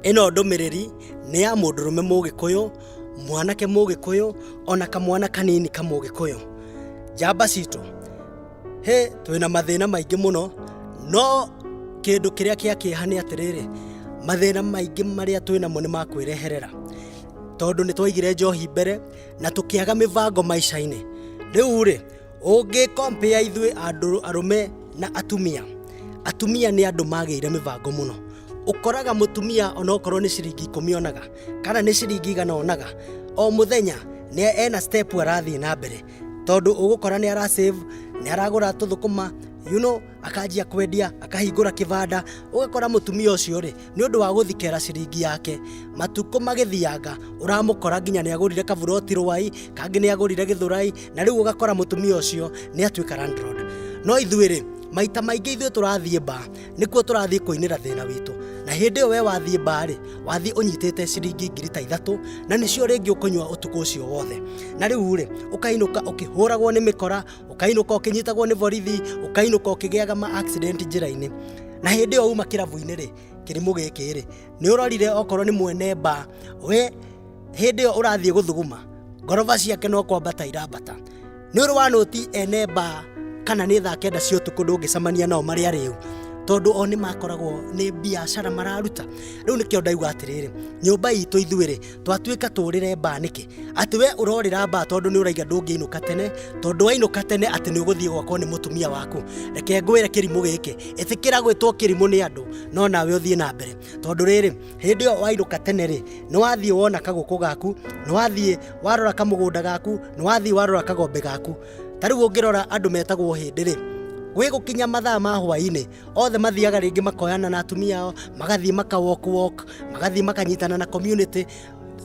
Ĩno ndũmĩrĩri nĩ ya mũndũrũme mũgĩkũyũ, mwanake mũgĩkũyũ, ona kamwana kanini kamũgĩkũyũ. Njamba citũ, hĩ twĩna mathĩna maingĩ mũno, no kĩndũ kĩrĩa kĩa kĩeha nĩ atĩrĩrĩ, mathĩna maingĩ marĩa twĩnamo nĩ makwĩreherera, tondũ nĩ twaigire njohi mbere, na tũkĩaga mĩbango maica-inĩ rĩu rĩ ũngĩkompea ithuĩ andũ arũme na atumia atumia nĩ andũ magĩire mĩbango mũno ũkoraga mũtumia onokorwo nĩ ciringi ikũmi onaga kana nĩ ciringi igana onaga o mũthenya nĩ ena step arathiĩ na mbere tondũ ũgũkora nĩ ara save nĩ aragũra tũthũkũma you know, akanjia kwendia akahingũra kĩbanda ũgakora mũtumia ũcio rĩ nĩ ũndũ wa gũthikera ciringi yake matukũ magĩthianga ũramũkora nginya nĩ agũrire kaburoti rwai kangĩ nĩ agũrire gĩthũrai na rĩu ũgakora mũtumia ũcio nĩ atuĩka landlord no ithuĩ rĩ maita maingĩ ithuĩ tũrathiĩ mba nĩkuo tũrathiĩ kũinĩra thĩna witũ na hĩndĩ ĩyo we wathiĩ mba rĩ wathiĩ ũnyitĩte ciringi ngiri ta ithatũ na nĩcio rĩngĩ ũkũnyua ũtukũ ũcio wothe na rĩu rĩ ũkainũka ũkĩhũragwo nĩ mĩkora ũkainũka ũkĩnyitagwo nĩ borithi ũkainũka ũkĩgĩaga ma accident njĩra-inĩ na hĩndĩ ĩyo uma kĩrabu-inĩ rĩ kĩrimũ gĩkĩ rĩ nĩ ũrorire okorwo nĩ mwene mba we hĩndĩ ĩyo ũrathiĩ gũthuguma ngoroba ciake no kwambata irambata nĩ ũrĩ wanũti ene mba kana nĩ thaa kenda cia ũtukũ ndũngĩcemania nao marĩ arĩu tondũ o nĩ makoragwo nĩ biacara mararuta rĩu nĩkĩo ndauga atĩrĩrĩ nyũmba itũ ithuĩ rĩ twatuĩka tũrĩre mbaa nĩkĩ atĩ we ũrorĩra mbaa tondũ nĩ ũraiga ndũngĩinũka tene tondũ wainũka tene atĩ nĩ ũgũthiĩ gwakwo nĩ mũtumia waku reke ngwĩre kĩrimũ gĩkĩ ĩtĩkĩra gwĩtwo kĩrimũ nĩ andũ no nawe ũthiĩ na mbere tondũ rĩrĩ hĩndĩ ĩyo wainũka tene rĩ nĩ wathiĩ wona kagũkũ gaku nĩ wathiĩ warora kamũgũnda gaku nĩ wathiĩ warora kagombe gaku ta rĩu ũngĩrora andũ metagwo hĩndĩ rĩ gwĩ gũkinya mathaa ma hwaĩ-inĩ othe mathiaga rĩngĩ makoyana na atumia ao magathiĩ maka walk walk magathiĩ makanyitana na community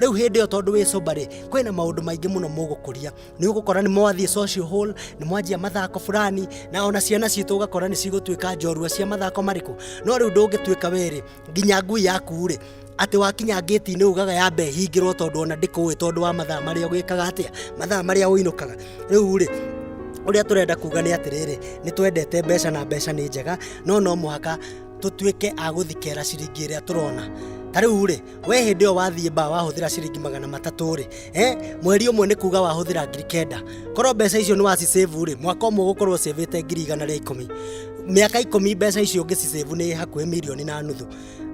rĩu hĩndĩ ĩyo tondũ wĩ sober rĩ kwĩna maũndũ maingĩ mũno mũgũkũria nĩ ũgũkora nĩ mwathiĩ social hall nĩ mwanjia mathako fulani na ona ciana citũ ũgakora nĩ cigũtuĩka njorua cia mathako marĩkũ no rĩu ndũngĩtuĩka we rĩ nginya ngui yaku-rĩ atĩ wakinya ngĩti-inĩ ugaga yambe hingĩrwo tondũ ona ndĩkũĩ tondũ wa mathaa marĩa ũgĩkaga atĩa mathaa marĩa ũinũkaga rĩu-rĩ ũrĩa tũrenda kuga nĩ atĩrĩrĩ nĩ twendete mbeca na mbeca nĩ njega no no mũhaka tũtuĩke a gũthikera ciringi ĩrĩa tũrona ta rĩu-rĩ we hĩndĩ ĩyo wathiĩ baa wahũthĩra ciringi magana matatũ-rĩ eh mweri ũmwe nĩ kuga wahũthĩra ngiri kenda korwo mbeca icio nĩ wacisevu rĩ mwaka ũmwe ũgũkorwo ũcevĩte ngiri igana rĩa ikũmi mĩaka ikũmi mbeca icio ũngĩcisevu nĩ hakuhĩ mirioni na nuthu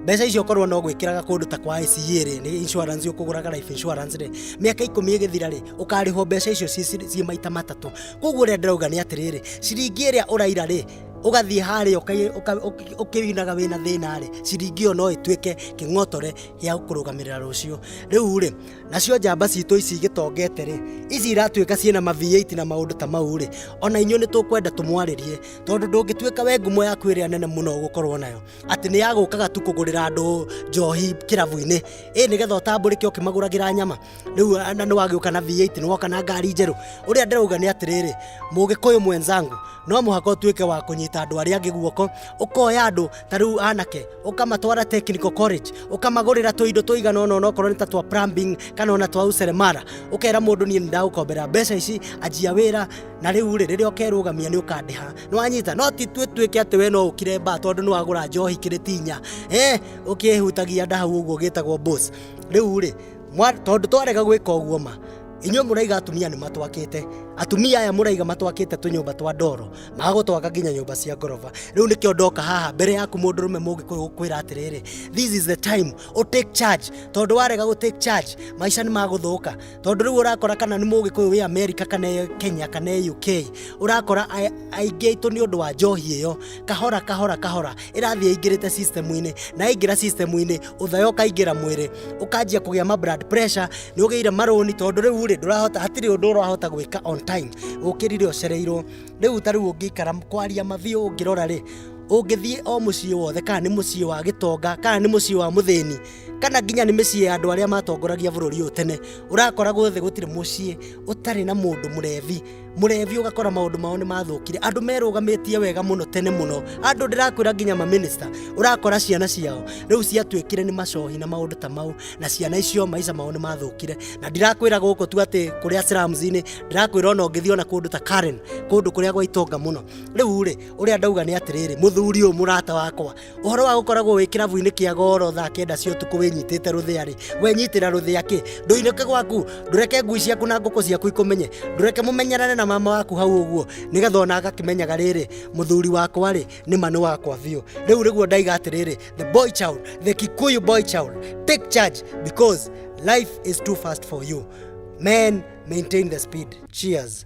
mbeca icio korwo no gwĩkĩraga kũndũ ta kwa ICA rĩ nĩ insurance ũkũgũraga life insurance rĩ mĩaka ikũmi ĩgĩthira rĩ ũkarĩhwo mbeca icio ciĩ ciĩ maita matatũ koguo ũrĩa ndĩrauga nĩ atĩrĩrĩ ciringi ĩrĩa ũraira rĩ ũgathiĩ harĩa ũkai- ũka- ũki- ũkĩinaga wĩna thĩna rĩ ciringi ĩyo no ĩtuĩke kĩng'otore gĩa kũrũgamĩrĩra rũciũ rĩu rĩ nacio njamba citũ ici igĩtongete rĩ ici iratuĩka ciĩna maviĩiti na maũndũ ta mau rĩ ona inyuĩ nĩ tũkwenda tũmwarĩrie tondũ ndũngĩtuĩka we ngumo yaku ĩrĩa nene mũno ũgũkorwo nayo atĩ nĩ ya gũkaga tu kũgũrĩra andũ njohi kĩrabu-inĩ ĩ nĩgetha ũtambũrĩke ũkĩmagũragĩra nyama rĩu a- na nĩ wagĩũka na viĩiti nĩ woka na ngari njerũ ũrĩa ndĩrauga nĩ atĩrĩrĩ mũgĩkũyũ mwenzangu no mũhaka ũtuĩke wa kũnyita andũ arĩa angĩ guoko ũkoya andũ ta rĩu anake ũkamatwara technical college ũkamagũrĩra tũindo tũigana ona onokorwo nĩ ta twa plumbing kana ona twa useremara ũkera mũndũ niĩ nĩndagũkombera mbeca ici anjia wĩra na rĩu rĩ rĩrĩa ũkerũgamia nĩ ũkandĩha nĩwanyita no ti tuĩ tuĩke atĩ we no ũkire mbaa tondũ nĩwagũra njohi kĩrĩtinya eh ũkĩhutagia nda hau ũguo gĩtagwo boss rĩu rĩ Mwa- tondũ twarega gwĩka ũguo ma inyuĩ mũraiga atumia nĩ matwakĩte atumia aya mũraiga matwakĩte tũnyũmba twa ndoro magagũtwaka nginya nyũmba cia ngoroba rĩu nĩkĩo ndoka haha mbere yaku mũndũrũme mũngĩkũyũ gũkwĩra atĩrĩrĩ this is the time u take charge tondũ warega gũ take charge maica nĩ magũthũka tondũ rĩu ũrakora kana nĩ mũgĩkũyũ wĩ amerika kana e kenya kana e uk ũrakora ai- aingĩ aitũ nĩ ũndũ wa njohi ĩyo kahora kahora kahora ĩrathiĩ ĩingĩrĩte system-inĩ na yaingĩra system-inĩ ũthayo ũkaingĩra mwĩrĩ ũkanjia kũgĩa ma blood pressure nĩ ũgĩire marũni tondũ rĩu rĩ ndũrahota hatirĩ ũndũ ũrahota gwĩka on time ũkĩrire ũcereirwo rĩu ta rĩu ũngĩikara kwaria mathiũ ũngĩrora rĩ ũngĩthiĩ o mũciĩ wothe kana nĩ mũciĩ wa gĩtonga kana nĩ mũciĩ wa mũthĩni kana nginya nĩ mĩciĩ ya andũ arĩa matongoragia bũrũri ũyũ tene ũrakoragwo thĩ gũtirĩ mũciĩ ũtarĩ na mũndũ mũrebi mũrebi ũgakora maũndũ mao nĩ mathũkire andũ merũgamĩtie wega mũno tene mũno andũ ndĩrakwĩra nginya maminista ũrakora ciana ciao rĩu ciatuĩkire nĩ macohi na maũndũ ta mau na ciana icio maica mao nĩ mathũkire na ndirakwĩra gũkũ tu atĩ kũrĩa slums-inĩ ndĩrakwĩra ona ũngĩthiĩ ona kũndũ ta Karen kũndũ kũrĩa gwa itonga mũno rĩu rĩ ũrĩa ndauga nĩ atĩrĩrĩ mũthuri ũyũ mũrata wakwa Ũhoro wa gũkoragwo wĩ kĩrabu-inĩ kĩa goro thaa kenda cia ũtukũ wĩnyitĩte rũthĩa-rĩ, wenyitĩra rũthĩa kĩ? Ndũinũke gwaku, ndũreke ngui ciaku na ngũkũ ciaku ikũmenye, ndũreke mũmenyerane na mama waku hau ũguo, nĩgetha ona agakĩmenyaga rĩrĩ, mũthuri wakwa-rĩ, nĩma nĩ wakwa biũ. Rĩu nĩguo ndaiga atĩrĩrĩ, the boy child, the Kikuyu boy child, take charge because life is too fast for you. Men, maintain the speed. Cheers.